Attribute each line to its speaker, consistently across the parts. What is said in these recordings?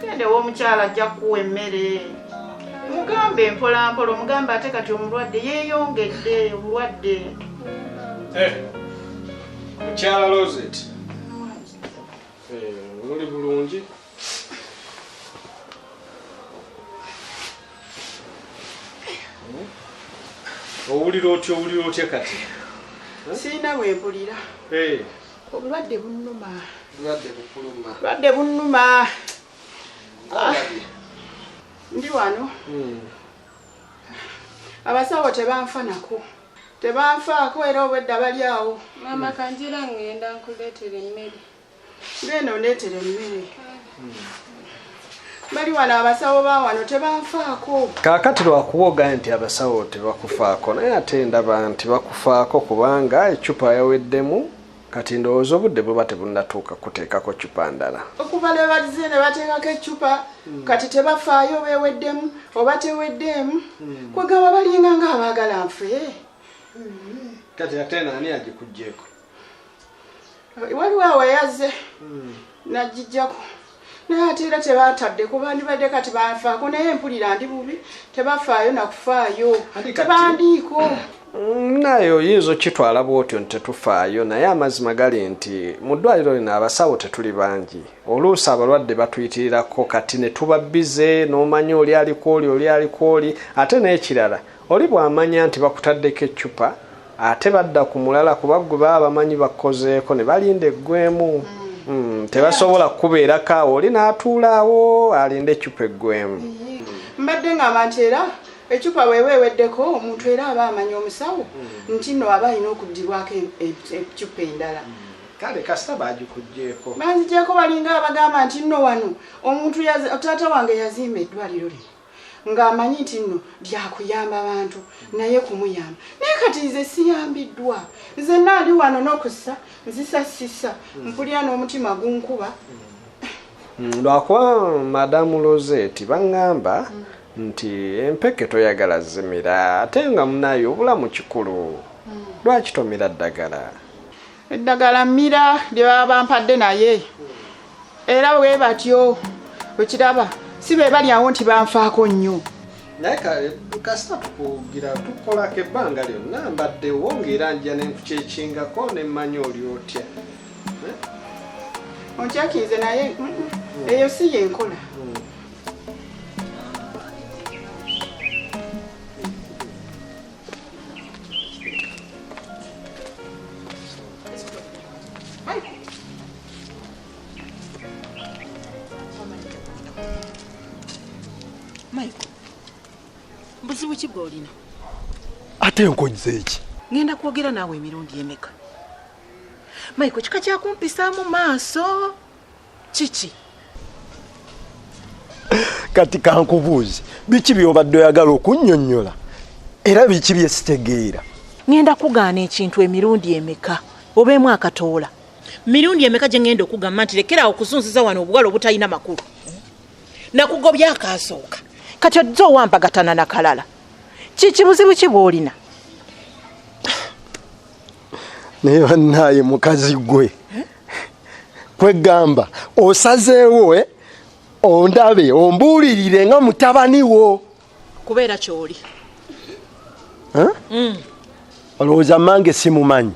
Speaker 1: gendewo omukyala ajja kuwa emmere mugambe mpolampola omugambe ate kati omulwadde yeyongedde obulwadde eh,
Speaker 2: mukyala loset eh, oli bulungi owulira otya owulira otya kati sirina
Speaker 1: wempulira eh. obulwadde bunuma bulwadde bunuma ah. ndi wano hmm. abasawo tebanfanako tebanfaako era obwedda bali awo mama kanjira
Speaker 3: ngenda nkuleetera emmere ngenda
Speaker 1: ondeetera emmere bali wano abasawo ba wano tebanfaako kaakati lwakuba
Speaker 2: ogaa nti abasawo tebakufaako naye ate ndaba nti bakufaako kubanga ecupa yaweddemu kati ndowooza obudde buba tebunatuuka kuteekako cupa ndala okuva lwe bazze
Speaker 1: ne bateekako ecupa hmm. kati tebafaayo beweddemu oba teweddeemu hmm. kwegamba balinga nga abaagala nfe hmm.
Speaker 2: kati ate naani agikugyeko
Speaker 1: waliwo awayaze hmm. najijjako naye ate era tebatadde ku bandibadde kati banfaako naye mpulira ndi bubi tebafaayo nakufaayo tebandiiko mm,
Speaker 2: naye oyinza okitwala bwotyo nti tetufaayo naye amazima gali nti mu ddwaliro lino abasawo tetuli bangi oluusi abalwadde batuyitirirako kati ne tuba bize n'omanya oli alikwoli oli alikwoli ate n'ekirala Oli bw'amanya nti bakutaddeko eccupa ate badda ku mulala kuba ggwe baba bamanyi bakkozeeko ne balinda eggwemu. Mm, tebasobola kukubeerako awo oli n'atuula awo alinde eccupa eggwemu. Mbadde
Speaker 1: ng'amba nti era eccupa bweba eweddeko omuntu era aba amanya omusawo mm. nti nno aba alina okuddibwako e, e, eccupa endala. Mm. kale kasita
Speaker 2: bagikugyeko banzigyeko balinga
Speaker 1: abagamba nti nno wano omuntu taata wange yazimba eddwaliro lino ng'amanyi nti nno lyakuyamba bantu naye kumuyamba naye kati nze siyambiddwa nze naali wano n'okussa nzisa sisa mpulira n'omutima gunkuba mm, lwakuba
Speaker 2: madamu loseti baŋŋamba nti empeke toyagala zimira ate nga munaye obulamu kikulu mm. lwaki tomira ddagala eddagala
Speaker 1: mmira lye baba bampadde naye era we batyo okiraba si be bali awo nti banfaako nnyo naye
Speaker 2: kasita tukugira tukolako ebbanga lyonna mbaddewo ngaera nja nenkukyekingako nemmanya oli otya eh?
Speaker 1: onkyakinze naye mm, mm, mm. eyo si yenkola buzibu ki bwolina ate
Speaker 4: nkonyiza eki ngenda kwogera naawe
Speaker 1: emirundi emeka maiko kika kyakumpisaamu maaso kiki
Speaker 4: kati kankubuuzi biki byobadde oyagala okunnyonnyola era biki bye sitegeera ŋenda kugaana
Speaker 5: ekintu emirundi emeka obeemu akatoola mirundi emeka gye ŋenda okugamba nti lekeraawo okuzunziza wano obuwala obutalina makulu nakugobya akaasooka kati ojja owambagatana nakalala kikibuzibu ki bwolina
Speaker 4: naye bannaaye mukazi gwe kwegamba osazeewo eh? ondabe ombuulirire nga mutabani wo kubeera kyoli
Speaker 5: eh? mm.
Speaker 4: olowooza mange simumanyi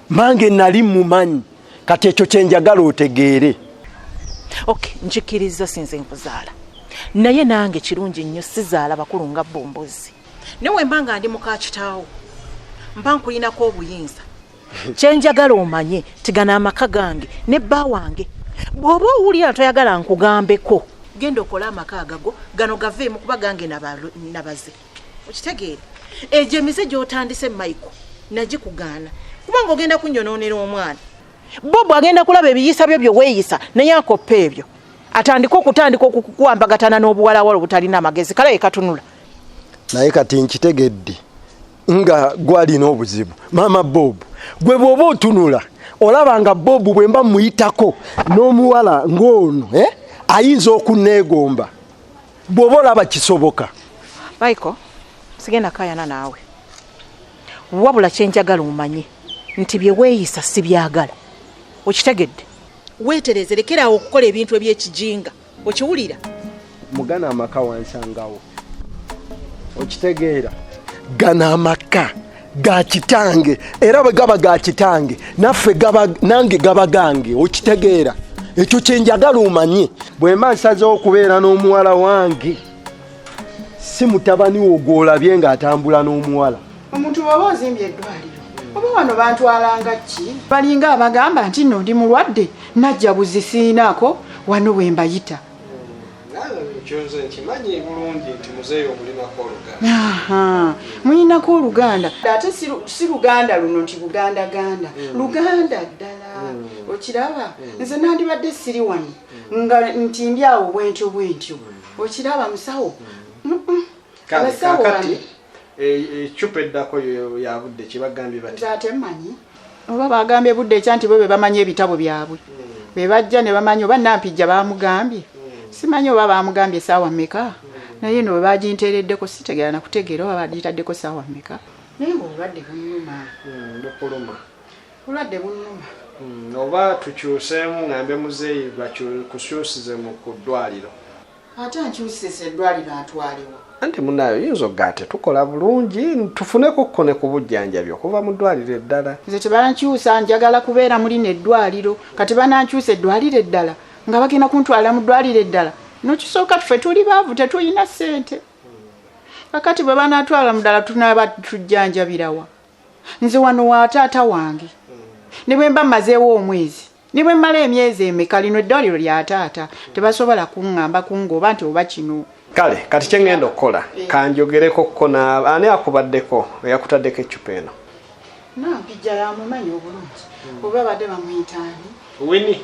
Speaker 4: mange nali mumanyi kati ekyo kyenjagala otegeere
Speaker 5: ok nkikkiriza sinze nkuzaala naye nange kirungi nnyo sizaala bakulu nga bombozi naye wemba nga ndi mukakitaawo mba nkulinako obuyinza kyenjagala omanye tigana amaka gange ne bba wange bw'oba owulira toyagala nkugambeko genda okole amaka agago gano gaveemu kuba gange nabaze okitegeere egyo emize gyotandise maiko nagikugaana kuba nga ogenda kunyonoonera omwana bo bwagenda kulaba ebiyisa byo byeweeyisa naye akoppa ebyo atandike okutandika okukuwambagatana n'obuwalawala obutalina amagezi kala yekatunula naye
Speaker 4: kati nkitegedde nga gwalina obuzibu maama bob gwe bwoba otunula olaba nga bob bwemba muyitako n'omuwala ng'ono eh? ayinza okunneegomba bwoba olaba kisoboka
Speaker 5: michael sigenda kayana naawe wabula kyenjagala omanye nti byeweeyisa sibyagala okitegedde weetereeze lekeraawo okukola ebintu eby'ekijinga okiwulira
Speaker 4: mugana amaka wansangawo okitegeera gana amaka ga kitange era bwe gaba ga kitange naffe nange gaba gange okitegeera ekyo kyenjagala omanye bwemba nsazeho okubeera n'omuwala wange si mutabani wo gwolabye ng'atambula n'omuwala omuntu bwaba ozimbye
Speaker 1: eddwaliro oba wano bantwalanga ki balinga abagamba nti no ndi mulwadde najja buzi siinaako wano bwe mbayita mulinako oluganda ate si luganda luno nti buganda ganda hmm. luganda ddala hmm. okiraba hmm. nze nandibadde siri wano nga nti ndi awo bwentyo bwentyo okiraba musawo abasawo ecupa
Speaker 2: eh, eh, eddako yabudde kyebagambye bat nze ate mmanyi
Speaker 1: oba bagambye budde ekya nti bo be bamanyi ebitabo byabwe hmm. be bajja ne bamanyi oba nampijja bamugambye hmm. simanyi oba bamugambye saawa meka hmm. naye no webaginteereddeko sitegera nakutegeera oba bagitaddeko saawa meka naye ngaobulwadde bunuma bukuluma bulwadde bunuma oba
Speaker 2: tukyuseemu ngambe muzeeyi bakusyusize mu ku ddwaliro ate
Speaker 1: ankyusisa eddwaliro atwalewa anti munayo yinza
Speaker 2: okugaa tetukola bulungi tufuneko ko ne ku bujjanjabi okuva mu ddwaliro eddala nze tebankyusa
Speaker 1: njagala kubeera muli ne eddwaliro kati banankyusa eddwaliro eddala nga bagenda kuntwala mu ddwaliro eddala nokisooka tufe tuli baavu tetulina ssente kakati bwe banatwala mudala tunaba tujjanjabirawa nze wano wa taata wange ne bwe mba mazeewo omwezi ne bwe mmala emyezi emeka lino eddwaliro lya taata tebasobola kuŋŋamba kungooba nti oba kino kale kati kye ŋŋenda
Speaker 2: okukola eh. kanjogereko ko ani akubaddeko eyakutaddeko eccupa eno nampijja
Speaker 1: yamumanyi obulungi hmm. oba badde bamuyitaani wini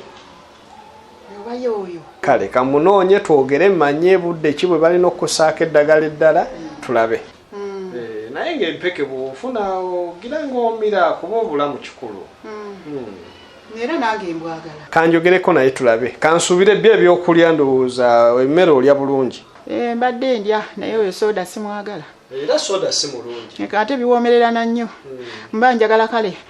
Speaker 1: obayo oyo kale kamunoonye
Speaker 2: twogere manye budde ki bwe balina okusaako eddagala eddala hmm. tulabe Mm. Eh, naye nga empeke bwofuna ogira ngaomira kuba obulamu kikulu mm.
Speaker 1: hmm. era nange embwagala kanjogereko naye tulabe
Speaker 2: kansuubire byo ebyokulya ndowooza emmere olya bulungi eh, mbadde ndya
Speaker 1: naye oyo soda simwagala era soda si
Speaker 2: mulungi ate biwoomererana
Speaker 1: nnyo hmm. mba njagala kale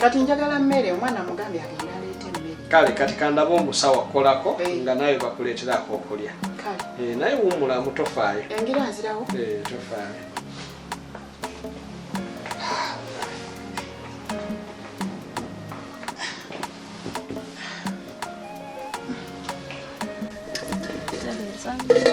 Speaker 1: kati njagala mmere omwana mugambe agenda aleeta emmere kale kati kandaba
Speaker 2: omusawa kolako eh. nga nawe bakuleeterako okulya eh, naye wumulamu tofaayo engira nzirawo
Speaker 1: eh, tofaayo Thank
Speaker 2: you.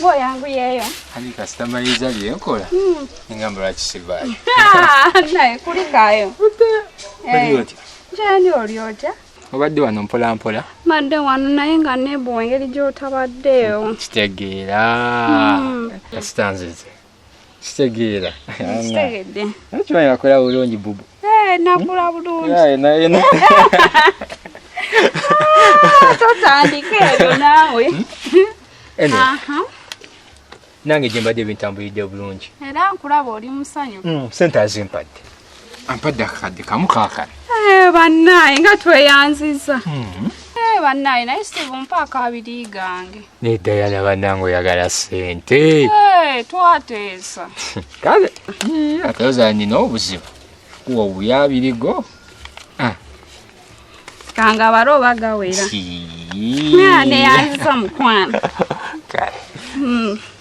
Speaker 6: Bo yangu yeyo. Hani customer
Speaker 7: yiza lyenkola. Mm. Ingamba la kisibaye. Naye
Speaker 6: kuli kayo. Hey.
Speaker 7: Eh. Jani olyota.
Speaker 6: Obadde wano mpola
Speaker 7: mpola. Madde wano naye
Speaker 6: nga nebo engeri gyotabaddeyo. Kitegeera.
Speaker 7: Mm. Kasitanzize. kitegeera
Speaker 6: kimanyi nakola
Speaker 7: bulungi bubu eh, nakula bulungiotandika
Speaker 6: ah, ebyo naawe hmm?
Speaker 7: nange gyembadde ebintambulidde bulungi era nkulaba oli
Speaker 6: musanyu hmm, sente azimpadde
Speaker 7: ampadde akakadde kamu kakala eh, bannaaye
Speaker 6: nga tweyanziza hmm. eh, bannaaye naye steve mpa akabiri gange naye dayana bannange
Speaker 7: oyagala sente eh, twateesa
Speaker 6: kale
Speaker 7: atoza nina obuzibu kuwa obuyabirigo ah.
Speaker 6: kanga bari oba gawera neyanziza mukwano hmm.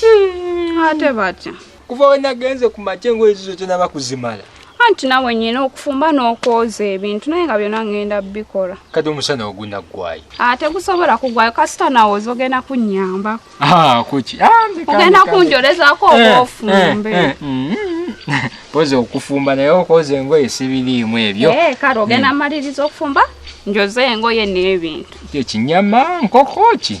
Speaker 7: Hmm, ate batya kuva we nagenze ku makya engoye zizo tenaba kuzimala anti nawe nyina
Speaker 6: okufumba n'okwoza ebintu naye nga byona ngenda bikola kati omusana
Speaker 7: ogunagwayo ate ah, gusobola
Speaker 6: kugwayo kasita nawe oza ogenda kunyamba ah, kuki
Speaker 7: ah, ogenda
Speaker 6: kunjolezako eh, oba eh, ofumbe eh, mm,
Speaker 7: mm. poza okufumba naye okwoza engoye sibiriimu ebyo kale ogenda mm. maliriza
Speaker 6: okufumba njoze engoye n'ebintu ekinyama
Speaker 7: nkoko ki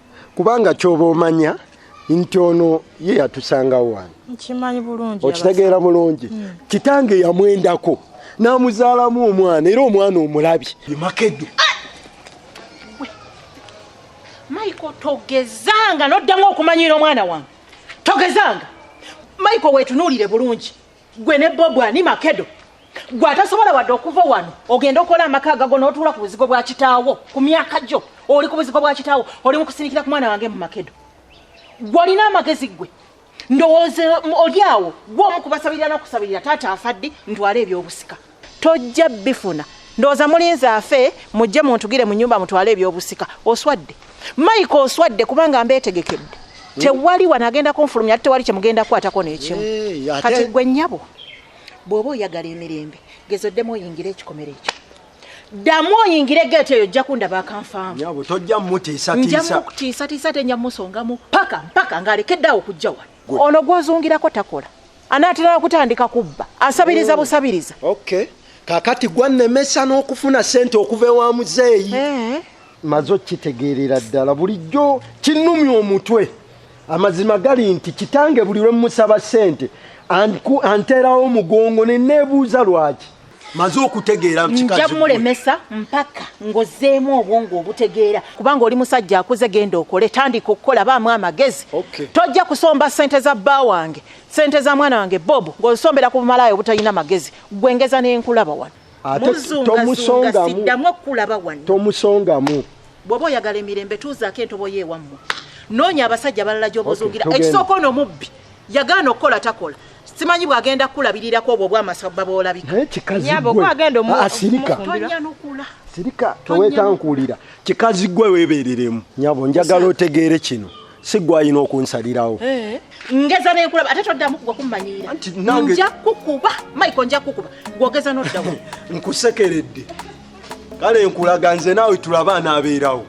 Speaker 4: kubanga kyoba omanya nti ono ye yatusangawo wano
Speaker 5: okitegeera bulungi
Speaker 4: hmm. kitange yamwendako n'amuzaalamu omwana era omwana omulabi makedo maiko
Speaker 5: togezanga noddamu okumanyira omwana wange togezanga maiko wetunuulire bulungi gwe ne bobu ani makedo gwe atasobola wadde okuva wano ogenda okola amaka agago n'otuula ku buzigo bwa kitaawo ku myaka gyo oli ku buzigo bwa kitaawo oli mu kusindikira ku mwana wange mu makedo gwe olina amagezi gwe ndowooza oli awo gwe omu kubasabirira n'okusabirira taata afaddi ntwala ebyobusika tojja bifuna ndowooza mulinze afe mujje muntugire mu nyumba mutwale ebyobusika oswadde maiko oswadde kubanga mbeetegekedde tewali wano agenda kunfulumya ate tewali kyemugenda kukwatako nekimu eh, kati gwe nyabo bwoba oyagala emirembe gezo ddemu oyingire ekikomero ekyo ddamu oyingire geeti eyo ojja kundaba akanfaamu tojja
Speaker 4: mutiisatiisa
Speaker 5: tenja musongamu paka mpaka ng'alekedde awo okujja wano ono gwozungirako takola anaatera okutandika kubba asabiriza oh. busabiriza okay
Speaker 4: kakati gwannemesa n'okufuna sente okuva ewa muzeeyi eh. maze okitegeerera ddala bulijjo kinnumya omutwe amazima gali nti kitange buli lwe mmusaba sente anteerawo omugongo ne neebuuza lwaki maze okutegeera nja mulemesa
Speaker 5: mpaka ngozeemu obwongo obutegeera kubanga oli musajja akuze genda okole tandika okukola baamu amagezi okay. tojja kusomba sente za bba wange sente za mwana wange bob ng'osombera ku bumalaaya obutalina magezi gwengeza nenkulaba wano tomusongamu
Speaker 4: okulaba
Speaker 5: wano tomusongamu
Speaker 4: bwoba oyagala
Speaker 5: emirembe tuuzaako entobo yeewammwe noonya abasajja balala gy'obozuugira okay, ekisooka ono mubbi yagaana okukola takola simanyi bwagenda kukulabirirako obwo obwamasabba
Speaker 4: bwolabikaasirikatonyanukula sirika towetankuulira kikazi gwe weebereremu nyabo njagala otegeere kino si gwalina okunsalirawo eh. ngeza
Speaker 5: nenkulaba ate toddamu kugwa kummanyiira nja kukuba maiko nja kukuba gwogeza noddawo nkusekeredde
Speaker 4: kale nkulaga nze naawe tulaba anaabeerawo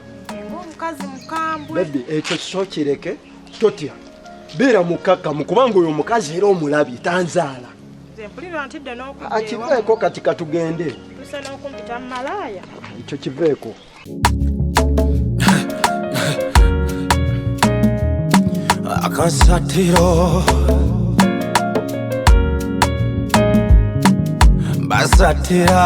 Speaker 5: ekyo
Speaker 4: sokireke totya beera mukkakkamu kubanga oyo omukazi era omulabye tanzaala akiveeko ah, kati katugende ekyo kiveeko akasatiro basatira